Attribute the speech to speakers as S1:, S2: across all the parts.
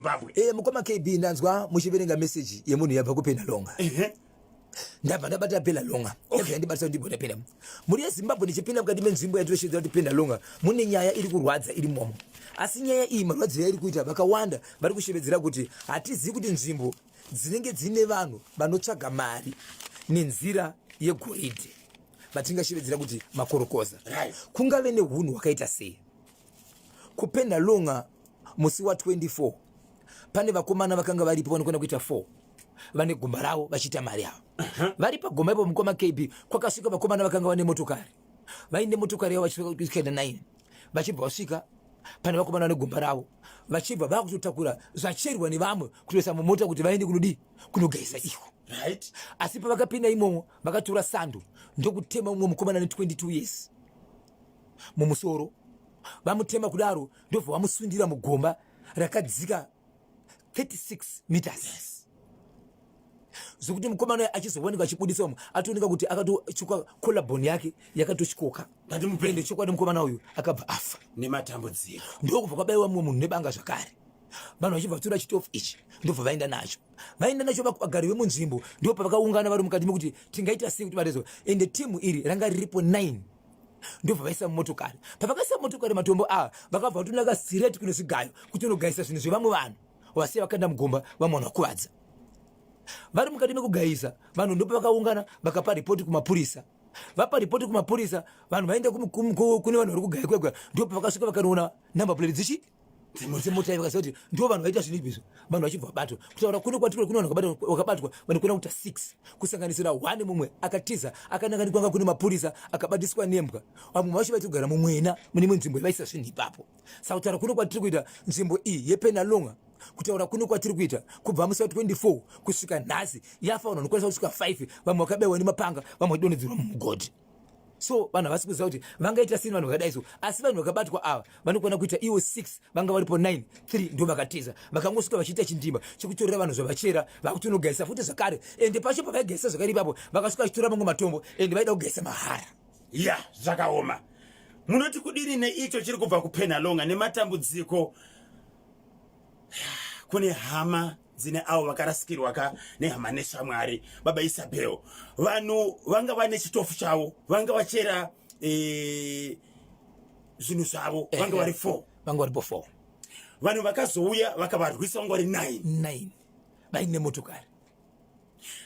S1: Zimbabwe. Eh, mukoma KB ndanzwa muchiverenga message yemunhu yabva kupena longa. Uh -huh. ndabva ndabata penda longa okay. yandibatisa kuti ndigona penda mhuri yezimbabwe ndichipinda mukati menzvimbo yatinoshedza kuti penda longa mune nyaya iri kurwadza iri momo asi nyaya iyi marwadzo yairi kuita vakawanda vari kushevedzera kuti hatizivi kuti nzvimbo dzinenge dziine vanhu vanotsvaga mari nenzira yegoridhe vatingashevedzera kuti makorokoza right. kungave neunhu hwakaita sei kupenda longa musi wa 24 pane vakomana vakanga varipo vanokwenda kuita 4 vane gomba ravo vachiita mari yavo vari pagomba ipo mukoma kb kwakasvika vakomana vakanga vane motokari vaine motokari yavo vachikaenda 9 vachibva vasvika pane vakomana vane gomba ravo vachibva vakutotakura zvacherwa nevamwe kutoisa mumota kuti vaende kunodii kunogeza iko right asi pavakapinda imomo vakatora sando ndokutema umwe mukomana ne 22 years mumusoro vamutema kudaro ndobva vamusundira mugomba rakadzika 36 meters yes zvekuti mukomana uya achizowanika achibudisa umwe atooneka kuti akatochuka collabon yake yakatochikoka ende chokwadi mukomana uyu akabva afa nematambudziko ndokubva kwabaiwa mumwe munhu nebanga zvakare vanhu vachibva vatora chitofu ichi ndobva vaenda nacho vaenda nacho vagari vemunzvimbo ndipo pavakaungana vari mukati mekuti tingaita sei kuti varezo ende timu iri ranga riripo 9 ndobva vaisa mumotokari pavakaisa motokari matombo ava vakabva vatonaka sireti kune zvigayo kuti unogaisa zvinhu zvevamwe vanhu vasiya vakaenda mugomba vamwe vanhu vakuvadza vari mukati mekugaisa vanhu ndopa vakaungana vakapa ripoti kumapurisa vapa ripoti kumapurisa vanhu vaenda kune vanhu vari kugaya kwega ndopa vakasvika vakanoona number plate dzichi dzimwe dzemota vakaziva kuti ndo vanhu vaita zvinhu izvizvo vanhu vachibva vabatwa kutaura kuno kwatiri kuno vanhu vakabatwa vanokona kuita six kusanganisira one mumwe akatiza akananga ndikwanga kune mapurisa akabatiswa nembwa vamwe vacho vaiti kugara mumwena mune imwe nzvimbo ivaisa zvinhu ipapo saka kutaura kuno kwatiri kuita nzvimbo iyi yepenalonga kutaura kuno kwatiri kuita kubva musi wa 24 kusvika nhasi yafa vanhu vanokwanisa kusvika 5 vamwe vakabewa nemapanga vamwe vachidonhedzerwa mumugodhi so vanhu havasi kuziva kuti vangaita sini vanhu vakadai so asi vanhu vakabatwa ava vanokwana kuita iwo 6 vanga varipo 9 3 ndo vakatiza vakangosvika vachiita chindima chekutorera vanhu zvavachera vakutonogaisa futi zvakare ende pacho pavaigaisa zvakare ipapo vakasvika vachitora mamwe matombo ende vaida kugaisa mahara ya yeah, zvakaoma
S2: munoti kudini neicho chiri kubva kupenhalonga nematambudziko kune hama dzine avo vakarasikirwa ka nehama neshamwari baba isabel vanhu vanga vane chitofu chavo vanga vachera e, zvinhu zvavo eh, vanga eh, vari four vanga varipo four
S1: vanhu
S2: vakazouya vakavarwisa vanga vari nine nine vaine
S1: motokari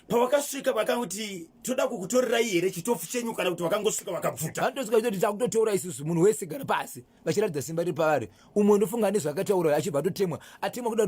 S2: pavakasvika vakati toda kukutorerai here chitofu chenyu kana kuti vakangosvika vakabvuta vanotosvika vachitoti takutoteura
S1: isusu munhu wese gara pasi vachiratidza simba riri pavari umwe ndofunga nezvaakataura achibva atotemwa atemwa kuda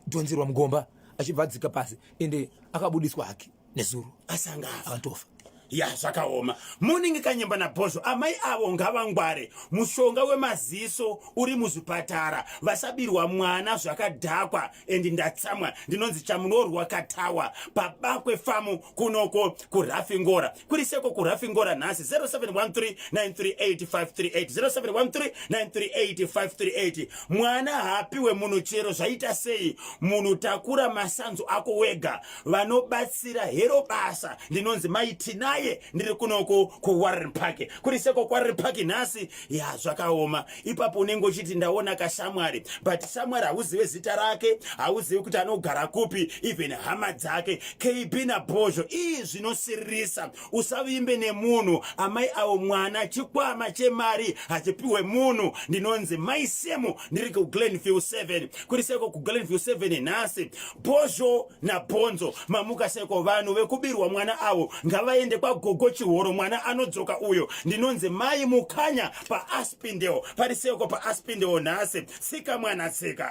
S1: dhonzerwa mugomba achibva adzika pasi ende akabudiswa hake nezuro asanga akatofa ya zvakaoma
S2: muningi kanyemba nabhozvo amai avo ngavangware mushonga wemaziso uri muzvipatara vasabirwa mwana zvakadhakwa endi ndatsamwa ndinonzi chamunorwa katawa pabakwe famu kunoko kurafingora kuri seko kurafingora nhasi 0713938538 mwana haapiwe munhu chero zvaita sei munhu takura masanzu ako wega vanobatsira hero basa ndinonzi maiti naye ndiri kunoko kuwarren park kuri seko kwarren park nhasi ya zvakaoma ipapo unenge uchiti ndaona kashamwari but shamwari hauzive zita rake hauzive kuti anogara kupi even hama dzake kb nabhozho ii zvinosiririsa usavimbe nemunhu amai avo mwana chikwama chemari hachipiwe munhu ndinonzi mai semu ndiri kuglenview 7 kuri seko kuglenview 7 nhasi bhozho nabhonzo mamuka seko vanhu vekubirwa mwana avo ngavaende kwagogo chihoro mwana anodzoka uyo ndinonzi mai mukanya paaspindewo pari seiko paaspindewo nhasi tsika mwana tsika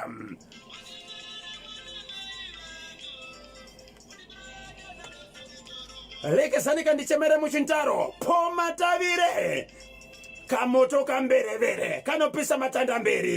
S2: rekesani kandichemere muchintaro pomatavire kamoto kamberevere kanopisa matanda mberi